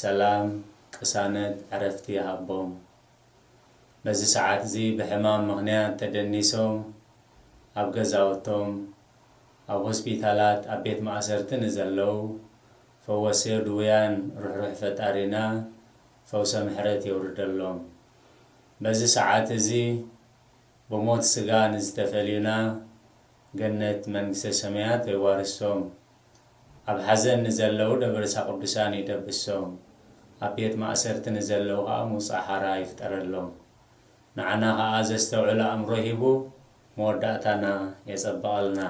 ሰላም ቅሳነት ዕረፍቲ ይሃቦም በዚ ሰዓትዚ ብሕማም ምኽንያት ተደኒሶም ኣብ ገዛውቶም ኣብ ሆስፒታላት ኣብ ቤት ማእሰርቲ ንዘለው ፈወስዮ ድውያን ርሕሩሕ ፈጣሪና ፈውሰ ምሕረት የውርደሎም በዚ ሰዓት እዚ ብሞት ስጋ ንዝተፈልዩና ገነት መንግስተ ሰማያት የዋርሶም ኣብ ሓዘን ንዘለዉ ደበረሳ ቅዱሳን ይደብሶም ኣብ ቤት ማእሰርቲ ንዘለዉ ከኣ ምውጻእ ሓራ ይፍጠረሎም ንዓና ከኣ ዘስተውዕል ኣእምሮ ሂቡ መወዳእታና የጸብቐልና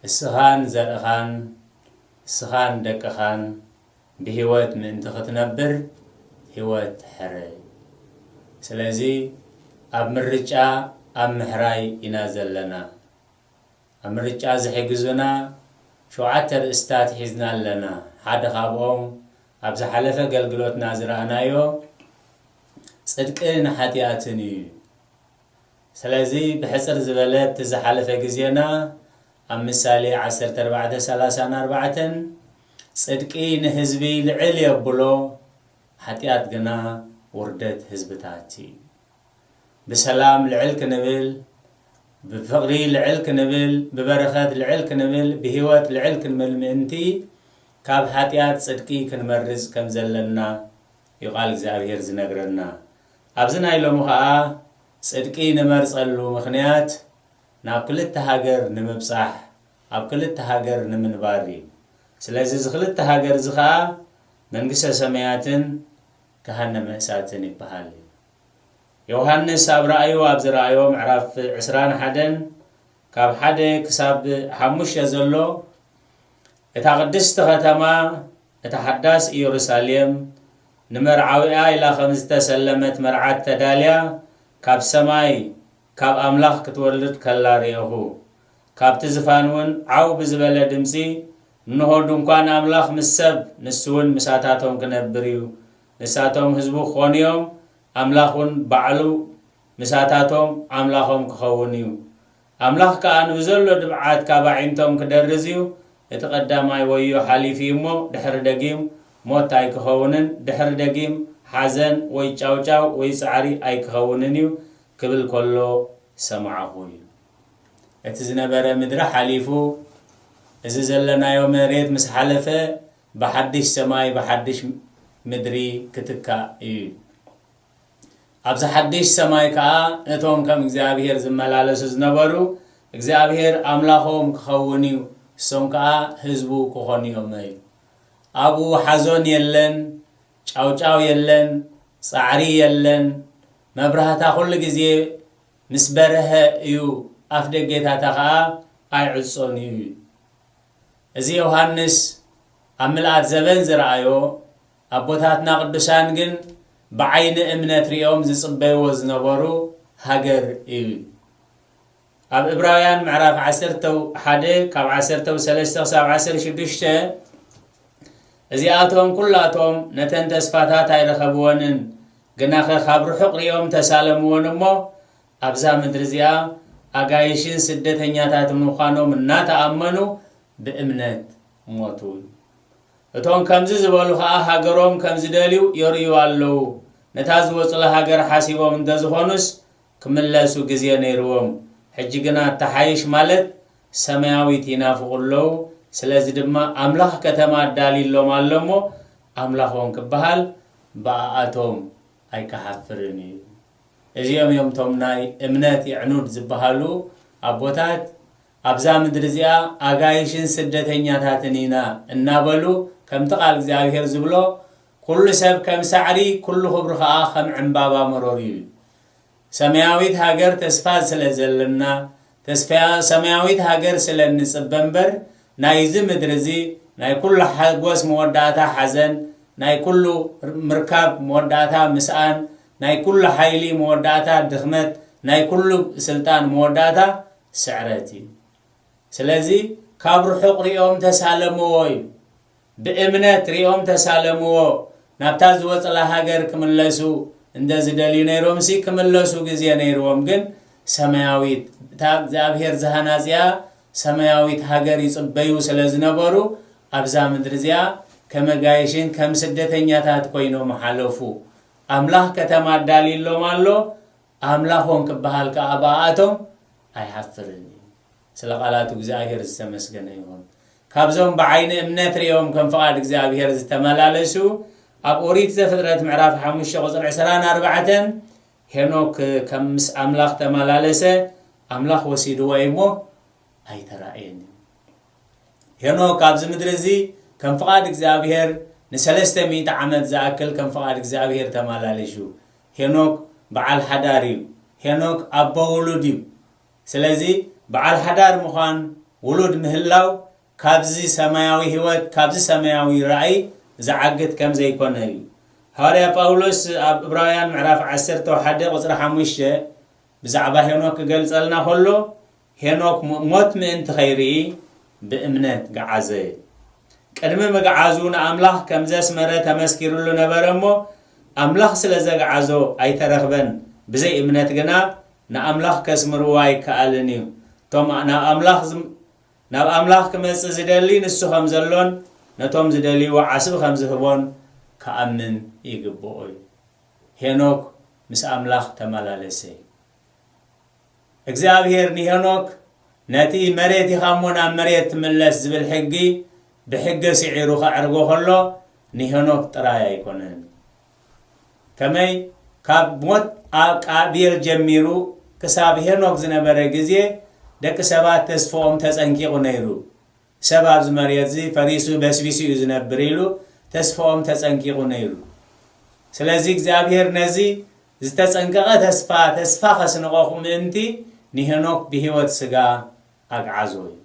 እስኻን ዘርእኻን እስኻን ደቅኻን ብሂወት ምእንቲ ክትነብር ሂወት ሕረይ ስለዚ ኣብ ምርጫ ኣብ ምሕራይ ኢና ዘለና። ኣብ ምርጫ ዝሕግዙና ሸውዓተ ርእስታት ሒዝና ኣለና። ሓደ ካብኦም ኣብ ዝሓለፈ ኣገልግሎትና ዝረኣናዮ ጽድቂ ን ሓጥያትን እዩ። ስለዚ ብሕጽር ዝበለ ኣብቲ ዝሓለፈ ግዜና ኣብ ምሳሌ ዓሰርተ ኣርባዕተ ሰላሳን ኣርባዕተን ጽድቂ ንህዝቢ ልዕል የብሎ ሓጥያት ግና ውርደት ህዝብታት እዩ። ብሰላም ልዕል ክንብል፣ ብፍቕሪ ልዕል ክንብል፣ ብበረኸት ልዕል ክንብል፣ ብህይወት ልዕል ክንብል ምእንቲ፣ ካብ ኃጢኣት ጽድቂ ክንመርጽ ከም ዘለና እዩ ቃል እግዚኣብሔር ዝነግረና። ኣብዚ ናይ ሎሚ ኸኣ ጽድቂ ንመርጸሉ ምኽንያት ናብ ክልተ ሃገር ንምብጻሕ፣ ኣብ ክልተ ሃገር ንምንባር እዩ። ስለዚ እዚ ክልተ ሃገር እዚ ኸኣ መንግሥተ ሰማያትን ገሃነመ እሳትን ይበሃል እዩ። ዮውሃንስ ኣብ ራእዩ ኣብ ዝረኣዮ ምዕራፍ ዕስራን ሓደን ካብ ሓደ ክሳብ ሓሙሽተ ዘሎ እታ ቅድስቲ ከተማ እታ ሓዳስ ኢየሩሳሌም ንመርዓዊኣ ኢላ ከም ዝተሰለመት መርዓት ተዳልያ ካብ ሰማይ ካብ ኣምላኽ ክትወርድ ከላ ርኤኹ። ካብቲ ዝፋን እውን ዓው ብዝበለ ድምጺ እንሆ፣ ድንኳን ኣምላኽ ምስ ሰብ፣ ንሱውን ምሳታቶም ኪነብር እዩ። ንሳቶም ህዝቡ ኪዀኑ እዮም፣ ኣምላኽውን ባዕሉ ምሳታቶም ኣምላኾም ኪኸውን እዩ። ኣምላኽ ከኣ ንብዘሎ ድብዓት ካብ ኣዒንቶም ኪደርዝ እዩ። እቲ ቐዳማይ ወዮ ሓሊፉ እዩ እሞ፣ ድሕሪ ደጊም ሞት ኣይኪኸውንን፣ ድሕሪ ደጊም ሓዘን ወይ ጫውጫው ወይ ጻዕሪ ኣይኪኸውንን እዩ፣ ኪብል ከሎ ሰማዕኹ ይብል። እቲ ዝነበረ ምድሪ ሓሊፉ እዚ ዘለናዮ መሬት ምስ ሓለፈ ብሓድሽ ሰማይ ብሓድሽ ምድሪ ክትካእ እዩ። ኣብዚ ሓድሽ ሰማይ ከኣ ነቶም ከም እግዚኣብሔር ዝመላለሱ ዝነበሩ እግዚኣብሔር ኣምላኾም ክኸውን እዩ፣ እሶም ከኣ ህዝቡ ክኾኑ እዮም እዩ። ኣብኡ ሓዞን የለን፣ ጫውጫው የለን፣ ጻዕሪ የለን፣ መብራህታ ኩሉ ግዜ ምስ በርሀ እዩ ኣፍደጌታታ ከኣ ኣይዕጾን እዩ ኢሉ። እዚ ዮሃንስ ኣብ ምልኣት ዘበን ዝረኣዮ ኣቦታትና ቅዱሳን ግን ብዓይኒ እምነት ርእዮም ዝጽበይዎ ዝነበሩ ሃገር እዩ ኢሉ። ኣብ እብራውያን ምዕራፍ ዓሰርተ ሓደ ካብ ዓሰርተ ሰለስተ ክሳብ ዓሰርተ ሽዱሽተ እዚኣቶም ኩላቶም ነተን ተስፋታት ኣይረኸብወንን ግናኸ ኻብ ርሑቕ ርእዮም ተሳለምወን እሞ፣ ኣብዛ ምድሪ እዚኣ ኣጋይሽን ስደተኛታትን ምዃኖም እናተኣመኑ ብእምነት ሞቱ። እቶም ከምዚ ዝበሉ ኸኣ ሃገሮም ከም ዝደልዩ የርእዩ ኣለዉ። ነታ ዝወጹላ ሃገር ሓሲቦም እንተ ዝዀኑስ ክምለሱ ግዜ ነይርዎም። ሕጂ ግና እትሓይሽ ማለት ሰማያዊት ይናፍቑ ኣለዉ። ስለዚ ድማ ኣምላኽ ከተማ ኣዳልዩሎም ኣሎ እሞ ኣምላኾም ክበሃል ብኣኣቶም ኣይክሓፍርን እዩ። እዚኦም እዮም እቶም ናይ እምነት የዕኑድ ዝበሃሉ ኣቦታት ኣብዛ ምድሪ እዚኣ ኣጋይሽን ስደተኛታትን ኢና እናበሉ ከምቲ ቃል እግዚኣብሄር ዝብሎ ኵሉ ሰብ ከም ሳዕሪ ኵሉ ክብሩ ኸኣ ከም ዕምባባ መሮር እዩ ሰማያዊት ሃገር ተስፋ ስለ ዘለና ተስፋ ሰማያዊት ሃገር ስለ እንጽበ እምበር ናይዚ ምድሪ እዚ ናይ ኩሉ ሓጎስ መወዳእታ ሓዘን ናይ ኩሉ ምርካብ መወዳእታ ምስኣን ናይ ኩሉ ሓይሊ መወዳእታ ድኽመት ናይ ኩሉ ስልጣን መወዳእታ ስዕረት እዩ ስለዚ ካብ ርሑቕ ሪኦም ተሳለምዎ እዩ ብእምነት ሪኦም ተሳለምዎ ናብታ ዝወጽላ ሃገር ክምለሱ እንደ ዝደልዩ ነይሮምሲ ክምለሱ ግዜ ነይርዎም ግን ሰማያዊት እታ እግዚኣብሔር ዝሃናጽያ ሰማያዊት ሃገር ይጽበዩ ስለ ዝነበሩ ኣብዛ ምድሪ እዚኣ ከም ኣጋይሽን ከም ስደተኛታት ኮይኖም ሓለፉ ኣምላኽ ከተማ ኣዳልዩሎም ኣሎ ኣምላኾም ክበሃል ከኣ ብኣኣቶም ኣይሓፍርን እዩ። ስለ ቃላቱ እግዚኣብሔር ዝተመስገነ ይኹን። ካብዞም ብዓይኒ እምነት ርእዮም ከም ፍቓድ እግዚኣብሔር ዝተመላለሱ ኣብ ኦሪት ዘፍጥረት ምዕራፍ ሓሙሽተ ቁጽሪ ዕስራን ኣርባዕተን ሄኖክ ከም ምስ ኣምላኽ ተመላለሰ ኣምላኽ ወሲድዎ እዩ እሞ ኣይተራእየን እዩ። ሄኖክ ኣብዚ ምድሪ እዚ ከም ፍቓድ እግዚኣብሔር ንሰለስተ ሚእቲ ዓመት ዝኣክል ከም ፍቓድ እግዚኣብሔር ተመላለሹ። ሄኖክ በዓል ሓዳር እዩ ሄኖክ ኣቦ ውሉድ እዩ ስለዚ በዓል ሓዳር ምዃን ውሉድ ምህላው ካብዚ ሰማያዊ ሕይወት ካብዚ ሰማያዊ ራእይ ዝዓግት ከም ዘይኮነ እዩ ሃዋርያ ጳውሎስ ኣብ እብራውያን ምዕራፍ ዓሰርተ ሓደ ቁጽሪ ሓሙሽተ ብዛዕባ ሄኖክ ክገልጸልና ከሎ ሄኖክ ሞት ምእንቲ ኸይርኢ ብእምነት ገዓዘ። ቅድሚ ምግዓዙ ንኣምላኽ ከም ዘስመረ ተመስኪርሉ ነበረ እሞ፣ ኣምላኽ ስለ ዘግዓዞ ኣይተረኽበን፣ ብዘይ እምነት ግና ንኣምላኽ ከስምርዎ ኣይከኣልን እዩ። እቶም ናብ ኣምላኽ ክመጽእ ዝደሊ ንሱ ከም ዘሎን ነቶም ዝደልይዎ ዓስቢ ከም ዝህቦን ክኣምን ይግብኦ እዩ። ሄኖክ ምስ ኣምላኽ ተመላለሰ። እግዚኣብሄር ንሄኖክ ነቲ መሬት ኢኻ እሞ ናብ መሬት ትምለስ ዝብል ሕጊ ብሕገ ስዒሩ ከዕርጎ ከሎ ንሄኖክ ጥራይ ኣይኮነን ከመይ ካብ ሞት ኣብ ቃቢል ጀሚሩ ክሳብ ሄኖክ ዝነበረ ግዜ ደቂ ሰባት ተስፍኦም ተጸንቂቑ ነይሩ። ሰብ ኣብዚ መሬትዚ ፈሪሱ በስቢሱ እዩ ዝነብር ኢሉ ተስፋኦም ተጸንቂቑ ነይሩ። ስለዚ እግዚኣብሄር ነዚ ዝተጸንቀቐ ተስፋ ተስፋ ከስንቐኹ ምእንቲ ንሄኖክ ብህይወት ስጋ ኣግዓዞ እዩ።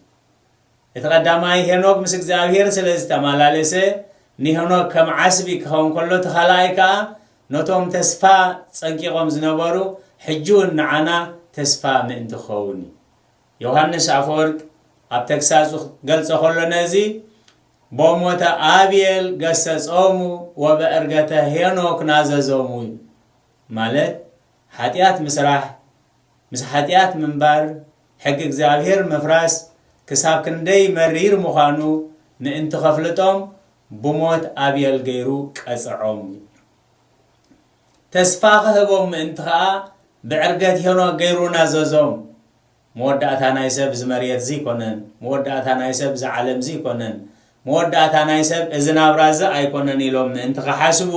እቲ ቀዳማይ ሄኖክ ምስ እግዚኣብሄር ስለ ዝተማላለሰ ንሄኖክ ከም ዓስቢ ክኸውን ከሎ እቲ ካልኣይ ከኣ ነቶም ተስፋ ጸንቂቖም ዝነበሩ ሕጂውን ንዓና ተስፋ ምእንቲ ክኸውን እዩ። ዮሃንስ ኣፈወርቅ ኣብ ተግሳጹ ክገልጾ ከሎ ነዚ ቦሞተ ኣብየል ገሰጾሙ ወበእርገተ ሄኖክ ናዘዞሙ እዩ ማለት ሓጢኣት ምስራሕ ምስ ሓጢኣት ምንባር ሕጊ እግዚኣብሔር ምፍራስ ክሳብ ክንደይ መሪር ምዃኑ ምእንቲ ከፍልጦም ብሞት ኣብየል ገይሩ ቀጸዖም እዩ ተስፋ ክህቦም ምእንቲ ከኣ ብዕርገት ሄኖክ ገይሩ ናዘዞም። መወዳእታ ናይ ሰብ እዚ መሬትዚ ኣይኮነን፣ መወዳእታ ናይ ሰብ እዚ ዓለምዚ ኣይኮነን፣ መወዳእታ ናይ ሰብ እዚ ናብራዚ ኣይኮነን ኢሎም ምእንቲ ክሓስቡ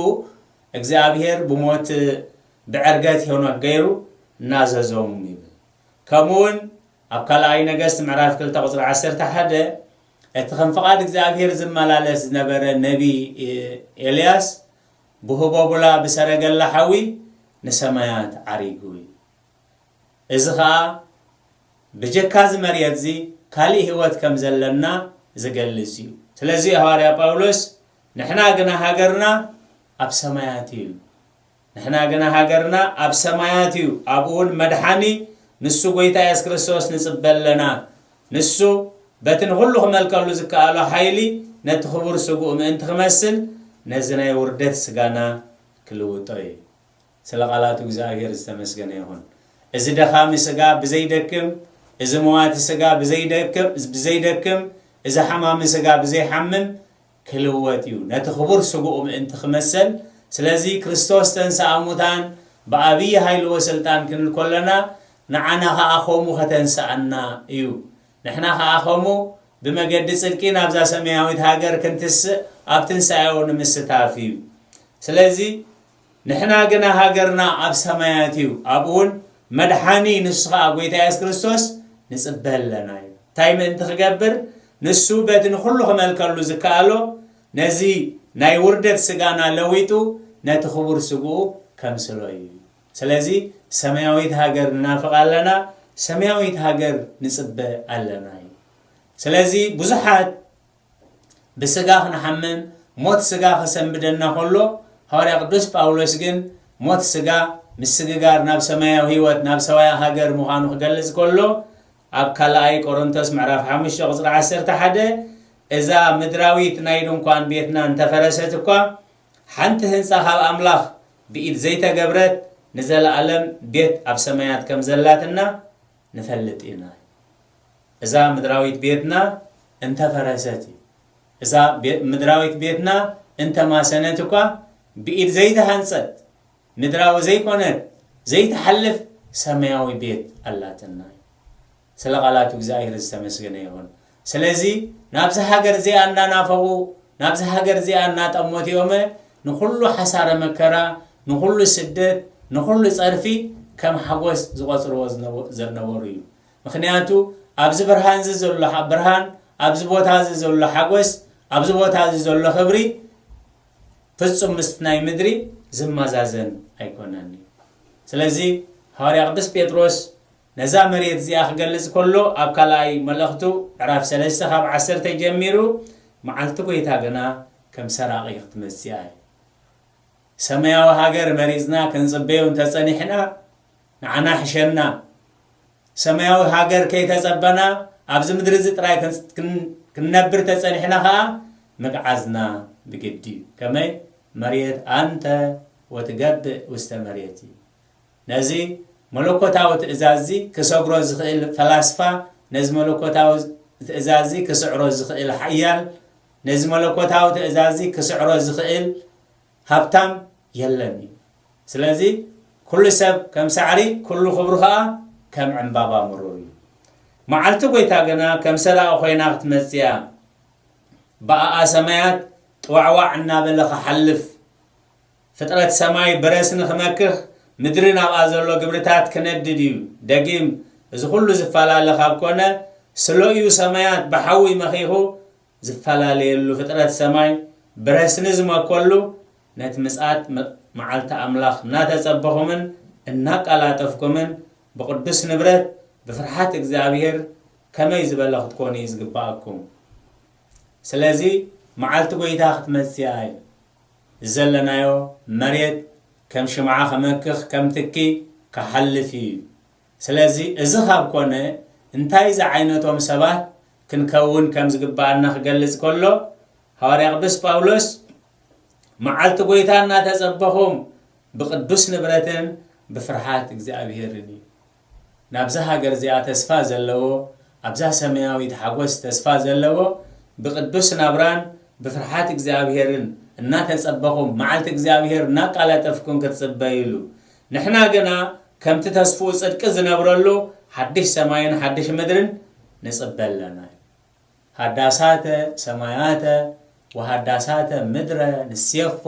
እግዚኣብሄር ብሞት ብዕርገት ሄኖክ ገይሩ ናዘዞም ይብል። ከምኡውን ኣብ ካልኣይ ነገስት ምዕራፍ ክልተ ቁፅሪ ዓሰርተ ሓደ እቲ ከም ፍቓድ እግዚኣብሄር ዝመላለስ ዝነበረ ነቢይ ኤልያስ ብህቦቡላ ብሰረገላ ሓዊ ንሰማያት ዓሪጉ እዩ። እዚ ኸኣ ብጀካ እዚ መርየት እዚ ካልእ ህይወት ከም ዘለና ዝገልጽ እዩ። ስለዚ እዩ ሃዋርያ ጳውሎስ ንሕና ግና ሃገርና ኣብ ሰማያት እዩ ኢሉ። ንሕና ግና ሃገርና ኣብ ሰማያት እዩ፣ ኣብኡ እውን መድሓኒ ንሱ ጐይታ የሱስ ክርስቶስ ንጽበ ኣለና። ንሱ በቲ ንዅሉ ኺመልከሉ ዚከኣሎ ሓይሊ ነቲ ኽቡር ስግኡ ምእንቲ ኺመስል፣ ነዚ ናይ ውርደት ስጋና ኪልውጦ እዩ። ስለ ቓላቱ እግዚኣብሄር ዝተመስገነ ይኹን። እዚ ደኻሚ ስጋ ብዘይደክም፣ እዚ መዋቲ ስጋ ብዘይደክም፣ እዚ ሓማሚ ስጋ ብዘይሓምም፣ ክልወጥ እዩ ነቲ ክቡር ስግኡ ምእንቲ ክመሰል ስለዚ ክርስቶስ ተንሥኣ ሙታን ብኣብይ ኃይሉ ወሥልጣን ክንል ከሎና ንዓና ከኣ ከምኡ ከተንሥኣና እዩ ንሕና ከኣ ከምኡ ብመገዲ ጽድቂ ናብዛ ሰመያዊት ሃገር ክንትሥእ ኣብ ትንሣኤኡ ንምስታፍ እዩ ስለዚ ንሕና ግና ሃገርና ኣብ ሰማያት እዩ፣ ኣብኡ ውን መድሓኒ ንሱ ኸኣ ጐይታ የሱስ ክርስቶስ ንጽበ ኣለና ኢሉ። እንታይ ምእንቲ ክገብር? ንሱ በቲ ንዅሉ ክመልከሉ ዝከኣሎ ነዚ ናይ ውርደት ስጋና ለዊጡ ነቲ ክቡር ስግኡ ከምስሎ እዩ። ስለዚ ሰማያዊት ሃገር ንናፍቕ ኣለና፣ ሰማያዊት ሃገር ንጽበ ኣለና ኢሉ። ስለዚ ብዙሓት ብስጋ ክንሓምም ሞት ስጋ ከሰንብደና ከሎ ሃዋርያ ቅዱስ ጳውሎስ ግን ሞት ስጋ ምስግጋር ናብ ሰማያዊ ህይወት ናብ ሰማያዊ ሃገር ምዃኑ ክገልጽ ከሎ ኣብ ካልኣይ ቆሮንቶስ ምዕራፍ 5 ቁጽሪ 11 እዛ ምድራዊት ናይ ድንኳን ቤትና እንተፈረሰት እኳ ሓንቲ ህንጻ ካብ ኣምላኽ ብኢድ ዘይተገብረት ንዘለኣለም ቤት ኣብ ሰማያት ከም ዘላትና ንፈልጥ ኢና እዛ ምድራዊት ቤትና እንተ ፈረሰት እዛ ምድራዊት ቤትና እንተ ማሰነት እኳ ብኢድ ዘይተሃንጸት ምድራዊ ዘይኮነት ዘይትሓልፍ ሰማያዊ ቤት ኣላትና ስለ ቃላቱ እግዚኣብሔር ዝተመስገነ ይኹን ስለዚ ናብዛ ሃገር እዚኣ እናናፈቑ፣ ናብዛ ሃገር እዚኣ እናጠመቱ እዮመ ንኹሉ ሓሳረ መከራ፣ ንኹሉ ስደት፣ ንኹሉ ጸርፊ ከም ሓጎስ ዝቖጽርዎ ዘነበሩ እዩ። ምኽንያቱ ኣብዚ ብርሃንዚ ዘሎ ብርሃን፣ ኣብዚ ቦታዚ ዘሎ ሓጎስ፣ ኣብዚ ቦታዚ ዘሎ ክብሪ ፍጹም ምስቲ ናይ ምድሪ ዝመዛዘን ኣይኮነን እዩ። ስለዚ ሃዋርያ ቅዱስ ጴጥሮስ ነዛ መሬት እዚኣ ክገልጽ ከሎ ኣብ ካልኣይ መልእኽቱ ዕራፍ ሰለስተ ካብ ዓሰርተ ጀሚሩ መዓልቲ ጎይታ ግና ከም ሰራቒ ክትመጽኣ እያ። ሰማያዊ ሃገር መሪጽና ክንጽበዮ እንተ ጸኒሕና ንዓና ሕሸና። ሰማያዊ ሃገር ከይተጸበና ኣብዚ ምድሪ እዚ ጥራይ ክንነብር እንተ ጸኒሕና ከኣ ምግዓዝና ብግዲ እዩ። ከመይ መሬት ኣንተ ወትገብእ ውስተ መሬት እዩ። ነዚ መለኮታዊ ትእዛዝዚ ክሰግሮ ዝኽእል ፈላስፋ፣ ነዚ መለኮታዊ ትእዛዝዚ ክስዕሮ ዝኽእል ሓያል፣ ነዚ መለኮታዊ ትእዛዝዚ ክስዕሮ ዝኽእል ሃብታም የለን እዩ። ስለዚ ኩሉ ሰብ ከም ሳዕሪ፣ ኩሉ ክብሩ ኸኣ ከም ዕምባባ ምሩር እዩ። መዓልቲ ጐይታ ግና ከም ሰራቒ ኾይና ክትመጽእ እያ። ብኣኣ ሰማያት ጥዋዕዋዕ እናበለ ክሓልፍ፣ ፍጥረት ሰማይ ብረስኒ ክመክኽ፣ ምድሪ ናብኣ ዘሎ ግብርታት ክነድድ እዩ። ደጊም እዚ ኩሉ ዝፈላለ ካብ ኮነ፣ ስለ'ዩ ሰማያት ብሓዊ መኺኹ ዝፈላለየሉ፣ ፍጥረት ሰማይ ብረስኒ ዝመከሉ፣ ነቲ ምጽኣት መዓልቲ ኣምላኽ እናተጸበኹምን እናቃላጠፍኩምን ብቅዱስ ንብረት ብፍርሓት እግዚኣብሔር ከመይ ዝበለ ክትኮኑ እዩ ዝግብኣኩም። ስለዚ መዓልቲ ጎይታ ክትመጽእ እያ እዩ። ዘለናዮ መሬት ከም ሽምዓ ክመክኽ ከም ትኪ ክሓልፍ ኢዩ ስለዚ እዚ ካብ ኮነ እንታይ ዝዓይነቶም ሰባት ክንከውን ከም ዝግብኣና ክገልጽ ከሎ ሃዋርያ ቅዱስ ጳውሎስ መዓልቲ ጎይታ እናተጸበኹም ብቅዱስ ንብረትን ብፍርሓት እግዚኣብሔርን ኢዩ ናብዛ ሃገር እዚኣ ተስፋ ዘለዎ፣ ኣብዛ ሰማያዊት ሓጐስ ተስፋ ዘለዎ፣ ብቕዱስ ናብራን ብፍርሓት እግዚኣብሄርን እናተጸበኹም፣ መዓልቲ እግዚኣብሄር እናቃላጠፍኩም ክትጽበዩሉ፣ ንሕና ግና ከምቲ ተስፍኡ ጽድቂ ዝነብረሉ ሓድሽ ሰማይን ሓድሽ ምድርን ንጽበ ኣለና። ሃዳሳተ ሰማያተ ወሃዳሳተ ምድረ ንሴፎ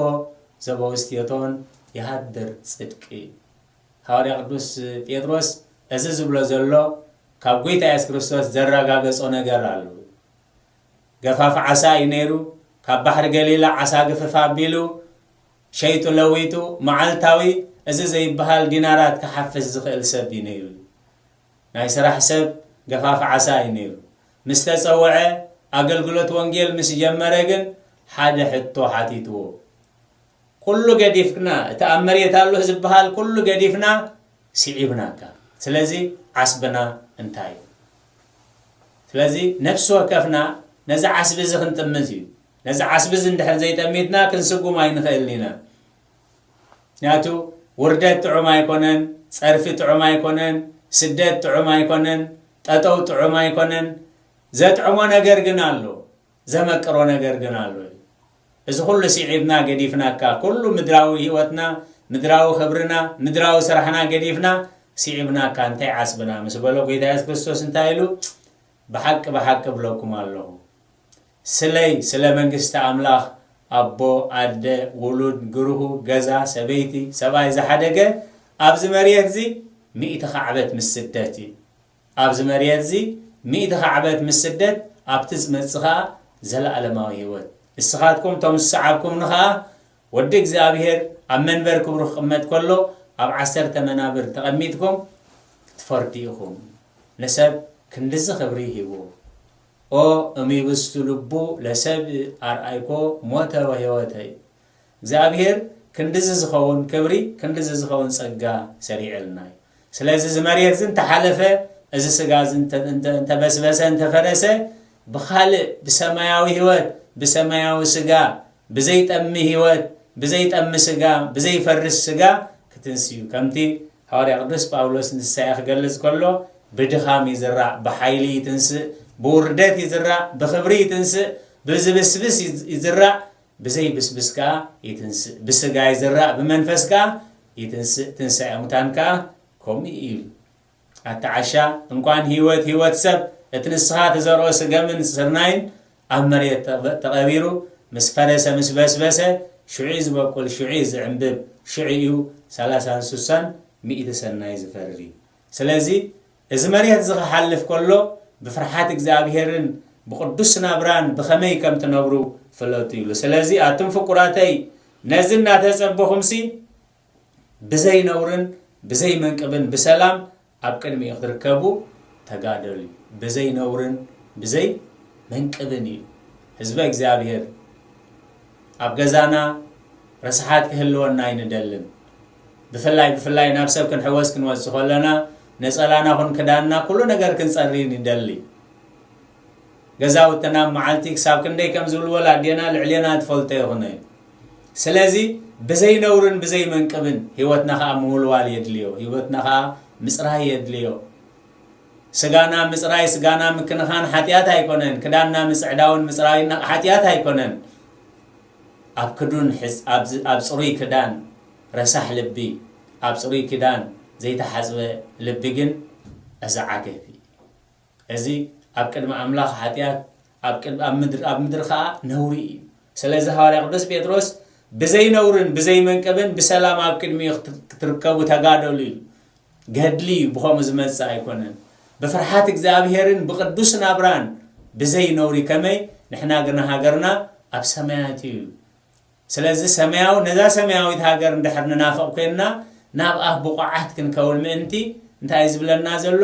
ዘበውስቴቶን የሃድር ጽድቂ። ሃዋርያ ቅዱስ ጴጥሮስ እዚ ዝብሎ ዘሎ ካብ ጎይታ የሱስ ክርስቶስ ዘራጋገጾ ነገር ኣሉ። ገፋፊ ዓሳ እዩ ነይሩ። ካብ ባሕሪ ገሊላ ዓሳ ግፍፍ ኣቢሉ ሸይጡ ለዊጡ መዓልታዊ እዚ ዘይበሃል ዲናራት ክሓፍስ ዝኽእል ሰብ እዩ ነይሩ። ናይ ስራሕ ሰብ ገፋፊ ዓሳ እዩ ነይሩ። ምስ ተጸወዐ ኣገልግሎት ወንጌል ምስ ጀመረ ግን ሓደ ሕቶ ሓቲትዎ። ኩሉ ገዲፍክና እቲ ኣብ መሬት ኣሎ ዝብሃል ኩሉ ገዲፍና ሲዒብናካ ስለዚ ዓስብና እንታይ እዩ ስለዚ ነፍሲ ወከፍና ነዚ ዓስቢ እዚ ክንጥምት እዩ ነዚ ዓስቢ እዚ እንድሕር ዘይጠሚትና ክንስጉም ኣይንኽእል ኢና ምክንያቱ ውርደት ጥዑም ኣይኮነን ጸርፊ ጥዑም ኣይኮነን ስደት ጥዑም ኣይኮነን ጠጠው ጥዑም ኣይኮነን ዘጥዕሞ ነገር ግን ኣሎ ዘመቅሮ ነገር ግን ኣሎ እዚ ኩሉ ሲዒብና ገዲፍናካ ኩሉ ምድራዊ ሂወትና ምድራዊ ክብርና ምድራዊ ስራሕና ገዲፍና ሲዒብናካ እንታይ ዓስብና ምስ በሎ ጎይታ የሱስ ክርስቶስ እንታይ ኢሉ ብሓቂ ብሓቂ እብለኩም ኣለኹ ስለይ ስለ መንግስቲ ኣምላኽ ኣቦ ኣደ ውሉድ ግርሁ ገዛ ሰበይቲ ሰብኣይ ዝሓደገ ኣብዚ መርየት እዚ ሚእቲ ካዕበት ምስ ስደት እዩ ኣብዚ መርየትዚ ሚእቲ ካዕበት ምስ ስደት ኣብቲ ዝመጽእ ከኣ ዘለኣለማዊ ህይወት እስኻትኩም እቶም ዝሰዓብኩምኒ ከኣ ወዲ እግዚኣብሔር ኣብ መንበር ክብሩ ክቅመጥ ከሎ ኣብ ዓሰርተ መናብር ተቀሚጥኩም ክትፈርዱ ኢኹም ንሰብ ክንድዚ ክብሪ ሂቡ ኦ እምይብስቱ ልቡ ለሰብ ኣርኣይኮ ሞተ ወሕይወተ እግዚኣብሄር ክንድዚ ዝኸውን ክብሪ ክንድዚ ዝኸውን ጸጋ ሰሪዕልና እዩ። ስለዚ እዚ መሬት እዚ እንተሓለፈ እዚ ስጋ እዚ እንተበስበሰ እንተፈረሰ ብኻልእ ብሰማያዊ ህይወት ብሰማያዊ ስጋ ብዘይጠሚ ህይወት ብዘይጠሚ ስጋ ብዘይፈርስ ስጋ ክትንስ እዩ። ከምቲ ሃዋርያ ቅዱስ ጳውሎስ ንትንሳኤ ክገልጽ ከሎ ብድኻም ይዝራእ ብሓይሊ ይትንስእ፣ ብውርደት ይዝራእ ብኽብሪ ይትንስእ፣ ብዝብስብስ ይዝራእ ብዘይ ብስብስ ከኣ ይትንስእ፣ ብስጋ ይዝራእ ብመንፈስ ከኣ ይትንስእ፣ ትንሳኤ ሙታን ከኣ ከምኡ እዩ ኢሉ። ኣታ ዓሻ እንቋን ህይወት ህይወት ሰብ እቲ ንስኻ ትዘርኦ ስገምን ስርናይን ኣብ መሬት ተቐቢሩ ምስ ፈረሰ ምስ በስበሰ ሽዑ'ዩ ዝበቁል ሽዑ'ዩ ዝዕምብብ ሽዑ'ዩ ሰላሳን ሱሳን ሚእቲ ሰናይ ዝፈሪ ስለዚ እዚ መሬት እዚ ኺሓልፍ ከሎ፣ ብፍርሓት እግዚኣብሄርን ብቕዱስ ናብራን ብኸመይ ከም ትነብሩ ፍለጡ ኢሉ። ስለዚ ኣቱም ፍቁራተይ፣ ነዚ እናተጸበኹምሲ፣ ብዘይ ነውርን ብዘይ መንቅብን ብሰላም ኣብ ቅድሚኡ ኽትርከቡ ተጋደሉ ኢሉ። ብዘይ ነውርን ብዘይ መንቅብን ኢሉ። ህዝበ እግዚኣብሄር፣ ኣብ ገዛና ርስሓት ኪህልወና ኣይንደልን። ብፍላይ ብፍላይ ናብ ሰብ ክንሕወስ ክንወጽእ ከለና፣ ነጸላና ኹን ክዳንና ኩሉ ነገር ክንጸሪ ንደሊ። ገዛውትና ኣብ መዓልቲ ክሳብ ክንደይ ከም ዝውልወል ኣዴና ልዕሌና ትፈልጦ ይኹነ። ስለዚ ብዘይ ነውርን ብዘይ መንቅብን ህይወትና ኸኣ ምውልዋል የድልዮ። ህይወትና ኸኣ ምጽራይ የድልዮ። ስጋና ምጽራይ ስጋና ምክንኻን ሓጢኣት ኣይኮነን። ክዳንና ምጽዕዳውን ምጽራይን ሓጢኣት ኣይኮነን። ኣብ ክዱን ሕጽ ኣብ ጽሩይ ክዳን ረሳሕ ልቢ ኣብ ጽሩይ ክዳን ዘይተሓጽበ ልቢ ግን እዚ ዓገብ እዩ እዚ ኣብ ቅድሚ ኣምላኽ ሓጢኣት ኣብ ቅድ ኣብ ምድር ኣብ ምድሪ ከኣ ነውሪ እዩ ስለዚ ሃዋርያ ቅዱስ ጴጥሮስ ብዘይ ነውርን ብዘይ መንቅብን ብሰላም ኣብ ቅድሚኡ ክትርከቡ ተጋደሉ ኢሉ ገድሊ ብኸምኡ ዝመጽእ ኣይኮነን፣ ብፍርሓት እግዚኣብሄርን ብቅዱስ ናብራን ብዘይ ነውሪ ከመይ ንሕና ግና ሃገርና ኣብ ሰማያት እዩ ስለዚ ሰማያዊ ነዛ ሰማያዊት ሃገር እንድሕር ንናፍቕ ኮይንና ናብ ኣፍ ብቑዓት ክንከውን ምእንቲ እንታይ ዝብለና ዘሎ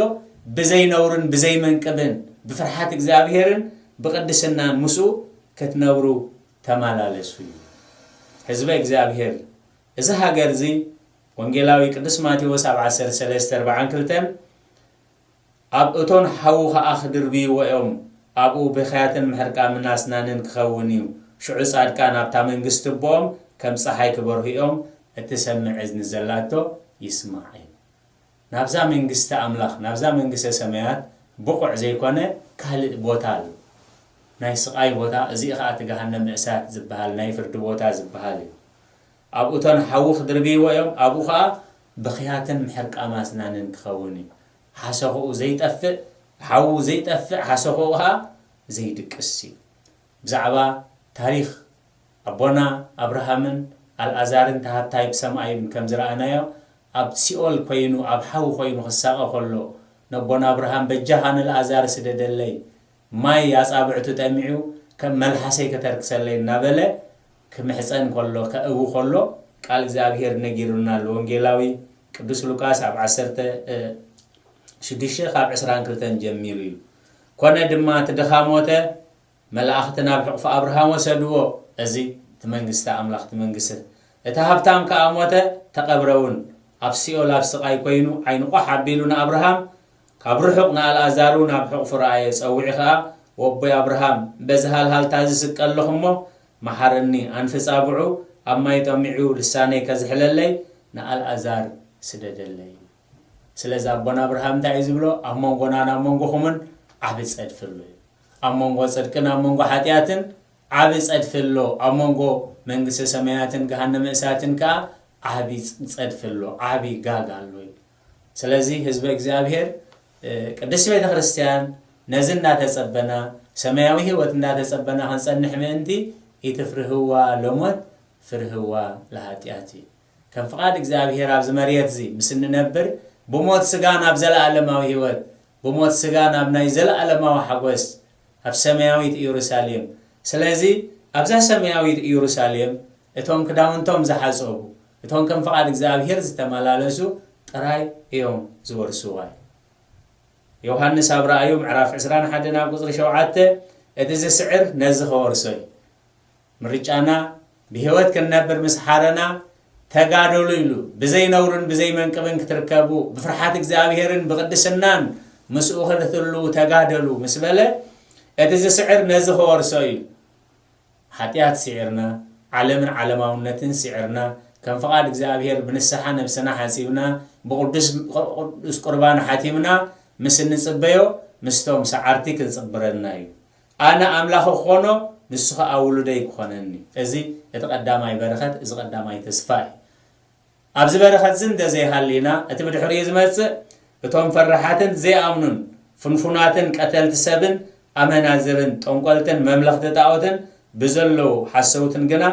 ብዘይ ነውርን ብዘይ መንቅብን ብፍርሓት እግዚኣብሄርን ብቅድስናን ምስኡ ክትነብሩ ተመላለሱ እዩ ህዝበ እግዚኣብሄር እዚ ሃገር እዚ ወንጌላዊ ቅዱስ ማቴዎስ ኣብ ዓሰርተ ሰለስተ ኣርብዓን ክልተን ኣብ እቶን ሓዊ ኸኣ ክድርብይዎ እዮም፣ ኣብኡ ብኽያትን ምሕርቃምን ኣስናንን ክኸውን እዩ፣ ሽዑ ጻድቃን ኣብታ መንግስቲ ኣቦኦም ከም ጸሓይ ክበርሁ እዮም፣ እትሰምዕ እዝኒ ዘላቶ ይስማዕ እዩ ናብዛ መንግስቲ ኣምላኽ ናብዛ መንግስተ ሰማያት ብቑዕ ዘይኮነ ካልእ ቦታ ኣሎ። ናይ ስቓይ ቦታ እዚ ኸኣ እቲ ገሃነመ እሳት ዝበሃል ናይ ፍርዲ ቦታ ዝበሃል እዩ። ኣብኡ እቶን ሓዊ ክድርብይዎ እዮም ኣብኡ ኸኣ ብኽያትን ምሕርቃም ኣስናንን ክኸውን እዩ። ሓሰኹኡ ዘይጠፍእ ሓዉ ዘይጠፍእ ሓሰኹኡ ኸኣ ዘይድቅስ እዩ። ብዛዕባ ታሪኽ ኣቦና ኣብርሃምን ኣልኣዛርን ተሃታይ ብሰማይም ከም ዝረኣናዮ ኣብ ሲኦል ኮይኑ ኣብ ሓዊ ኮይኑ ክሳቀ ከሎ ነቦና ኣብርሃም በጃኻ ንልኣዛር ስደደለይ ማይ ኣጻብዕቱ ጠሚዑ ከም መልሓሰይ ከተርክሰለይ እናበለ ክምሕጸን ከሎ ከእዊ ከሎ ቃል እግዚኣብሔር ነጊሩና ኣሎ ወንጌላዊ ቅዱስ ሉቃስ ኣብ ዓሰርተ ሽዱሽተ ካብ ዕስራን ክልተን ጀሚሩ እዩ ኮነ ድማ እቲ ድኻ ሞተ መላእኽቲ ናብ ሕቕፎ ኣብርሃም ወሰድዎ፣ እዚ እቲ መንግስቲ ኣምላኽ ትምንግስት። እቲ ሃብታም ከኣ ሞተ፣ ተቐብረውን። ኣብ ሲኦል ኣብ ስቓይ ኮይኑ ዓይኑ ቋሕ ኣቢሉ ንኣብርሃም፣ ካብ ርሑቕ ንኣልኣዛርውን ኣብ ሕቕፉ ረኣየ፣ ጸውዒ ከኣ፣ ወቦይ ኣብርሃም፣ በዚ ሃልሃልታ እዚ ስቀ ኣለኹ እሞ፣ መሓረኒ፣ ኣንፍጽ ኣብዑ ኣብ ማይ ጠሚዑ ልሳነይ ከዝሕለለይ ንኣልኣዛር ስደደለይ። ስለዚ ኣቦና ኣብርሃም እንታይ እዩ ዝብሎ፣ ኣብ መንጎናን ኣብ መንጎኹምን ዓቢ ጸድፊ ኣሎ እዩ። ኣብ መንጎ ጽድቅን ኣብ መንጎ ሓጢኣትን ዓቢ ጸድፊ ኣሎ፣ ኣብ መንጎ መንግስተ ሰማያትን ገሃነመ እሳትን ከኣ ዓቢ ጸድፊ ኣሎ፣ ዓቢ ጋግ ኣሎ ይብል። ስለዚ ህዝበ እግዚኣብሔር ቅድስት ቤተ ክርስቲያን ነዚ እንዳተጸበና ሰማያዊ ህይወት እንዳተጸበና ክንጸንሕ ምእንቲ ኢትፍርህዋ ለሞት ፍርህዋ ለሃጢኣት እዩ። ከም ፍቓድ እግዚኣብሔር ኣብዚ መሬት እዚ ምስ እንነብር ብሞት ስጋ ናብ ዘለኣለማዊ ህይወት ብሞት ስጋ ናብ ናይ ዘለኣለማዊ ሓጐስ ኣብ ሰማያዊት ኢየሩሳሌም። ስለዚ ኣብዛ ሰማያዊት ኢየሩሳሌም እቶም ክዳውንቶም ዝሓጸቡ፣ እቶም ከም ፍቓድ እግዚኣብሔር ዝተመላለሱ ጥራይ እዮም ዝወርስዋ ኢሉ። ዮሃንስ ኣብ ራእዩ ምዕራፍ ዕስራን ሓደን ኣብ ቁጽሪ ሸውዓተ እቲ ዝስዕር ነዚ ከወርሶ እዩ። ምርጫና ብህይወት ክንነብር ምስ ሓረና ተጋደሉ ኢሉ ብዘይ ነውርን ብዘይ መንቅብን ክትርከቡ ብፍርሓት እግዚኣብሔርን ብቕድስናን ምስኡ ክንትልዉ ተጋደሉ ምስ በለ እቲ ዝስዕር ነዚ ክወርሶ እዩ ሓጢኣት ስዒርና ዓለምን ዓለማውነትን ስዒርና ከም ፍቓድ እግዚኣብሔር ብንስሓ ነብስና ሓጺብና ብቅዱስ ቁርባን ሓቲምና ምስ እንጽበዮ ምስቶም ሰዓርቲ ክንጽብረና እዩ ኣነ ኣምላኹ ክኾኖ ንሱ ኸኣ ውሉደይ ክኾነኒ። እዚ እቲ ቀዳማይ በረኸት፣ እዚ ቀዳማይ ተስፋ እዩ። ኣብዚ በረኸትዚ እንተ ዘይሃሊና፣ እቲ ብድሕሪኡ ዝመጽእ እቶም ፈራሓትን ዘይኣምኑን ፍንፉናትን ቀተልቲ ሰብን ኣመናዝርን ጠንቆልትን መምለኽቲ ጣኦትን ብዘለዉ ሓሰውትን ግና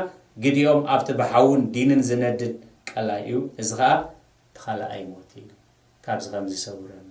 ግዲኦም ኣብቲ ብሓውን ዲንን ዝነድድ ቀላይ እዩ፣ እዚ ኸኣ እቲ ኻልኣይ ሞት እዩ። ካብዚ ከምዚ ይሰውረና።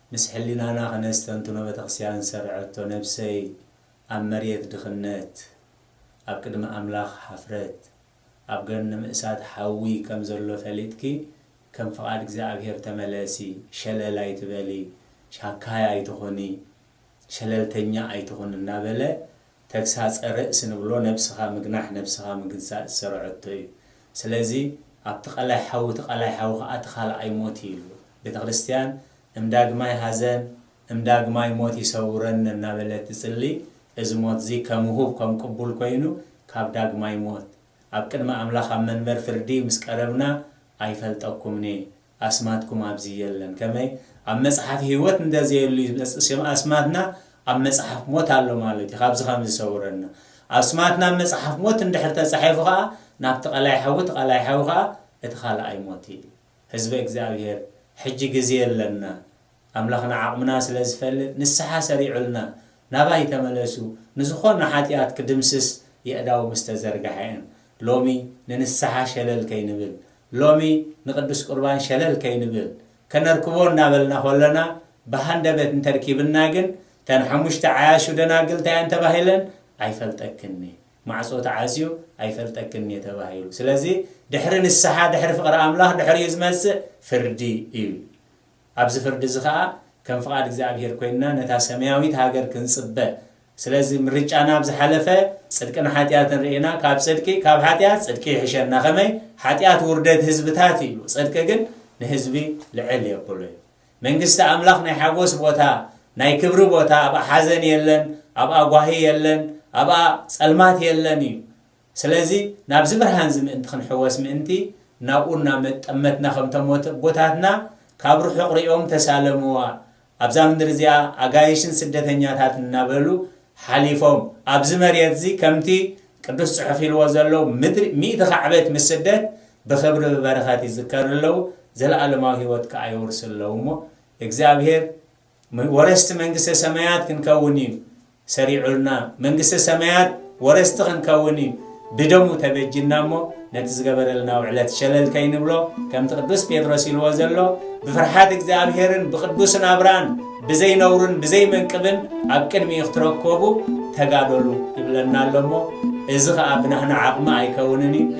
ምስ ሕሊናና ክነስተንትኖ ቤተክርስቲያን ዝሰረዐቶ ነብሰይ ኣብ መሬት ድኽነት ኣብ ቅድሚ ኣምላኽ ሓፍረት ኣብ ገርንም እሳት ሓዊ ከም ዘሎ ፈሊጥኪ ከም ፍቃድ እግዚኣብሔር ተመለሲ ሸለል ኣይትበሊ ሻካይ ኣይትኹኒ ሸለልተኛ ኣይትኹኒ እናበለ ተግሳጸ ርእስ ንብሎ ነብስኻ ምግናሕ ነብስኻ ምግዛእ ዝሰርዐቶ እዩ ስለዚ ኣብቲ ቀላይ ሓዊ እቲ ቀላይ ሓዊ ከኣ እቲ ካልኣይ ሞት እዩ ኢሉ ቤተክርስትያን እም ዳግማይ ሃዘን እም ዳግማይ ሞት ይሰውረነ እናበለት ትጽሊ እዚ ሞትዚ ከም ውሁብ ከም ቅቡል ኮይኑ ካብ ዳግማይ ሞት ኣብ ቅድሚ ኣምላኽ ኣብ መንበር ፍርዲ ምስ ቀረብና ኣይፈልጠኩምንየ ኣስማትኩም ኣብዚ የለን ከመይ ኣብ መጽሓፍ ሂወት እንተ ዘየሉ ይመጽእ ሽም ኣስማትና ኣብ መጽሓፍ ሞት ኣሎ ማለት እዩ ካብዚ ከምዚ ሰውረና ኣስማትና ኣብ መጽሓፍ ሞት እንድሕር ተጻሒፉ ከኣ ናብቲ ቀላይ ሓዊ እቲ ቀላይ ሓዊ ከኣ እቲ ካልኣይ ሞት እዩ ህዝበ እግዚኣብሄር ሕጂ ግዜ ኣለና ኣምላኽና ዓቕምና ስለ ዝፈልጥ ንስሓ ሰሪዑልና ናባይ ተመለሱ ንዝኾነ ሓጢኣት ክድምስስ የእዳው ምስ ተዘርግሐ እን ሎሚ ንንስሓ ሸለል ከይንብል ሎሚ ንቅዱስ ቁርባን ሸለል ከይንብል ከነርክቦ እናበልና ኮለና ብሃንደበት እንተርኪብና ግን ተን ሓሙሽተ ዓያሹ ደናግል እንታይ እየን ተባሂለን ኣይፈልጠክን እየ ማዕጾ ተዓጽዩ ኣይፈልጠክን እየ ተባሂሉ ስለዚ ድሕሪ ንስሓ ድሕሪ ፍቕሪ ኣምላኽ ድሕሪኡ ዝመጽእ ፍርዲ እዩ ኣብዚ ፍርዲ እዚ ኸኣ ከም ፍቓድ እግዚኣብሄር ኮይንና ነታ ሰማያዊት ሃገር ክንጽበ ስለዚ ምርጫና ኣብ ዝሓለፈ ጽድቅን ሓጢኣትን ርኤና ካብ ጽድቂ ካብ ሓጢኣት ጽድቂ ይሕሸና ከመይ ሓጢኣት ውርደት ህዝብታት እዩ ጽድቂ ግን ንህዝቢ ልዕል የብሎ እዩ መንግስቲ ኣምላኽ ናይ ሓጎስ ቦታ ናይ ክብሪ ቦታ ኣብኣ ሓዘን የለን ኣብኣ ጓሂ የለን ኣብኣ ጸልማት የለን እዩ ስለዚ ናብዚ ብርሃንዚ ምእንቲ ክንሕወስ ምእንቲ ናብኡ እናመጠመትና ከምቶም ኣቦታትና ካብ ርሑቕ ሪኦም ተሳለምዋ ኣብዛ ምድሪ እዚኣ ኣጋይሽን ስደተኛታትን እናበሉ ሓሊፎም ኣብዚ መሬትዚ ከምቲ ቅዱስ ጽሑፍ ኢልዎ ዘሎ ምድሪ ሚእቲ ካዕበት ምስ ስደት ብኽብሪ ብበረኸት ይዝከሩ ኣለዉ ዘለኣለማዊ ህይወት ከኣ የውርሱ ኣለዉ እሞ እግዚኣብሔር ወረስቲ መንግስተ ሰማያት ክንከውን እዩ ሰሪዑልና መንግስተ ሰማያት ወረስቲ ክንከውን እዩ ብደሙ ተበጅና እሞ ነቲ ዝገበረልና ውዕለት ሸለል ከይንብሎ ከምቲ ቅዱስ ጴጥሮስ ኢልዎ ዘሎ ብፍርሓት እግዚኣብሔርን ብቅዱስ ናብራን ብዘይነውርን ብዘይመንቅብን ኣብ ቅድሚ ክትረከቡ ተጋደሉ ይብለና ኣሎ እሞ እዚ ከዓ ብናህና ዓቕሚ ኣይከውንን እዩ